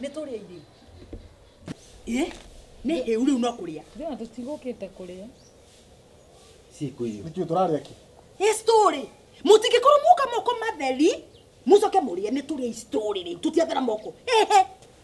nä tå rä irio ä nä hä u rä u no kå rä a Thina tutigũkĩte te kuria. Siku hiyo. Nĩkĩo tũrarĩa kĩ? Hii story. Mũtingĩkorwo muka moko matheri, mucoke mũrĩe nĩ tũrĩa hii story rĩ. Tũtiathera moko. Ehe.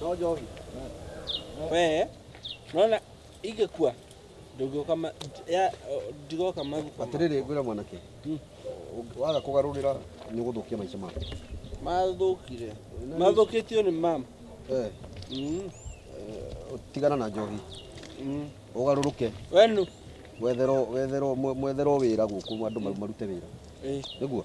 No njohi. We, unaona ingekuwa ndũngĩũka ma- ya- ndigoka magufa Atĩrĩrĩ ngwĩra mwanake. Mm. ũng- Waga kũgarũrĩra nĩ ũgũthũkia maica maku. mathũkire mathũkĩtio nĩ mam Eh, Mm, tigana na njohi. mm. Ũgarũrũke. wenu Wetherwo wetherwo mwe- mwetherwo wĩra gũkũ andũ maru- marute wĩra. Eh, Nĩguo?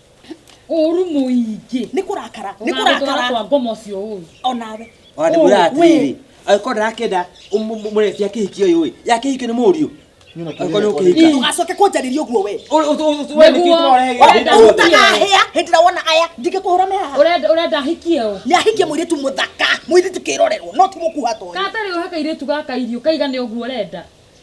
ũru mũingĩ nĩ kũrakara nĩ kũrakara kwa ngoma ũcio ũru onawe ona nĩguo atĩrĩ angĩkorwo ndarakenda mũretia kĩhiki ũyũ ĩ ya kĩhiki nĩ mũriũ ndũgacoke kũnjarĩria ũguo we ũtagahĩa hĩndĩ ĩrĩa wona aya ndingĩkũhũra me haha ũrenda ahikie ũ nĩ ahikie mũirĩtu mũthaka mũirĩtu kĩrorerwo no ti mũkuha to katarĩ ũhe kairĩtu gaka irio kaigane ũguo ũrenda